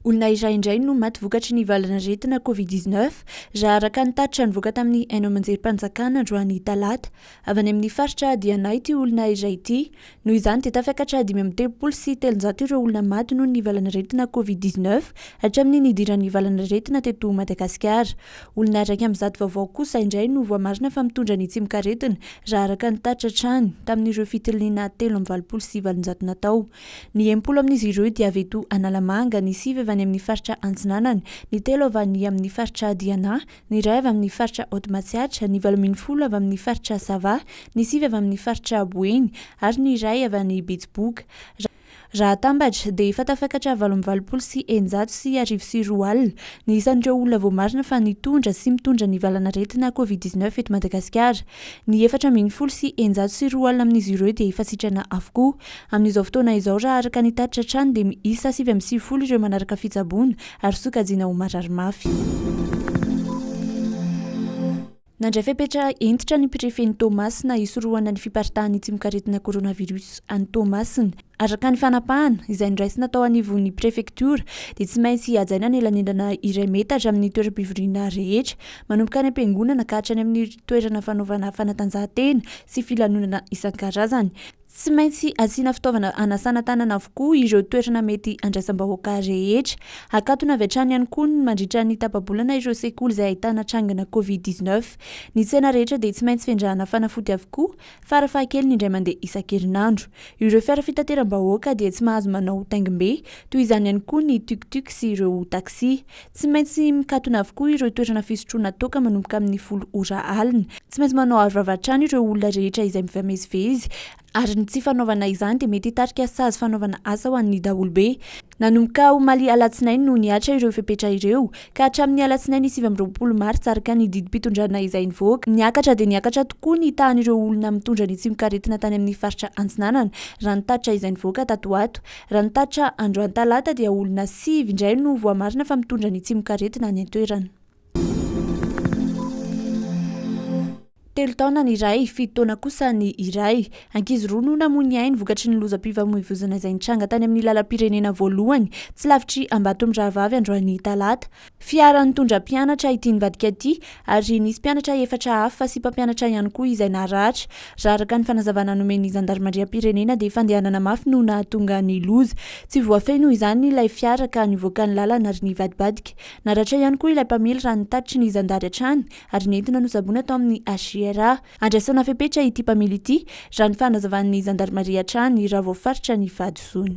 Olona iray indray no maty vokatry ny valan'aretina Covid-19 raha araka ny tatitra nivoaka tamin'ny haino aman-jerim-panjakana androany talata. Avy any amin'ny faritra Adianay ity olona iray ity. Noho izany dia tafiakatra dimy amby telopolo sy telonjato ireo olona maty noho ny valan'aretina Covid-19 hatramin'ny nidiran'ny valan'aretina teto Madagasikara. Olona iraika amin'ny zato vaovao kosa indray no voamarina fa mitondra ny tsimok'aretina, raha araka ny tatitra hatrany, tamin'ireo fitiliana telo amby valopolo sy valonjato natao. Ny enimpolo amin'izy ireo dia avy eto Analamanga, ny sivy avy any amin'ny faritra Antsinanana, ny telo avy any amin'ny faritra Diana, ny iray avy amin'ny faritra Haute Matsiatra, ny valo ambin'ny folo avy amin'ny faritra Sava, ny sivy avy amin'ny faritra Boeny ary ny iray avy any Betsiboka. Raha atambatra, dia efa tafakatra valo amby valopolo sy eninjato sy arivo sy roa alina ny isan'ireo olona voamarina fa nitondra sy mitondra ny valanaretina Covid dix neuf eto Madagasikara. Ny efatra ambin'ny folo sy eninjato sy roa alina amin'izy ireo dia efa sitrana avokoa. Amin'izao fotoana izao, raha araka ny tatitra hatrany, dia miisa sivy amby sivifolo ireo manaraka fitsaboana ary sokajiana ho marary mafy. Nandray fepetra hentitra ny Prefen'i Toamasina hisorohana ny fiparitahan'ny tsimokaretina coronavirus any Toamasina. Araka ny fanapahana, izay noraisina tao anivon'ny prefektiora, dia tsy maintsy hajaina ny elanelana iray metatra amin'ny toeram-pivoriana rehetra, manomboka any am-piangonana ka hatrany amin'ny toerana fanaovana fanatanjahantena sy filanonana isan-karazany. Tsy maintsy asiana fitaovana hanasana tanana avokoa ireo toerana mety handraisam-bahoaka rehetra. Hakatona avy hatrany ihany koa ny mandritra ny tapa-bolana ireo sekoly izay ahitana trangana covid dix neuf. Ny tsena rehetra dia tsy maintsy fendrahana fanafody avokoa, fara-fahakeliny indray mandeha isan-kerinandro. Ireo fiara fitateram-bahoaka dia tsy mahazo manao taingim-be, toy izany ihany koa ny tuk-tuk sy ireo taxi. Tsy maintsy mikatona avokoa ireo toerana fisotroana toaka manomboka amin'ny folo ora alina. Tsy maintsy manao arovava hatrany ireo olona rehetra izay mifamezivezy, ary ny tsy fanaovana izany dia mety hitarika sazy fanaovana asa ho an'ny daholobe. Nanomboka omaly alatsinainy no nihatra ireo fepetra ireo, ka hatramin'ny alatsinainy sivy amby roapolo martsa araka ny didim-pitondrana izay nivoaka. Niakatra dia niakatra tokoa ny tahan'ireo olona mitondra ny tsimokaretina tany amin'ny faritra Antsinanana, raha ny tatitra izay nivoaka tato ho ato. Raha ny tatitra androany talata dia olona sivy indray no voamarina fa mitondra ny tsimokaretina any an-toerana. Telo taona ny iray, fito taona kosa ny iray. Ankizy roa no namoy ny ainy vokatry ny lozam-pifamoivoizana izay nitranga tany amin'ny lalam-pirenena voalohany tsy lavitr'i Ambatomirahavavy androany talata. Fiara nitondra mpianatra ity nivadika ity ary nisy mpianatra efatra hafa sy mpampianatra ihany koa izay naratra. Raha araka ny fanazavana nomen'ny zandarimariam-pirenena dia fandehanana mafy no nahatonga ny loza. Tsy voafehiny izany ilay fiara ka nivoaka ny lalana ary nivadibadika. Naratra ihany koa ilay mpamily raha ny tatitry ny zandary hatrany ary nentina nosaboina tao amin'ny HIRA. Andrasana fepetra ity mpamily ity, raha ny fanazavan'ny zandarimaria hatrany, raha vao faritra ny fahadisoany.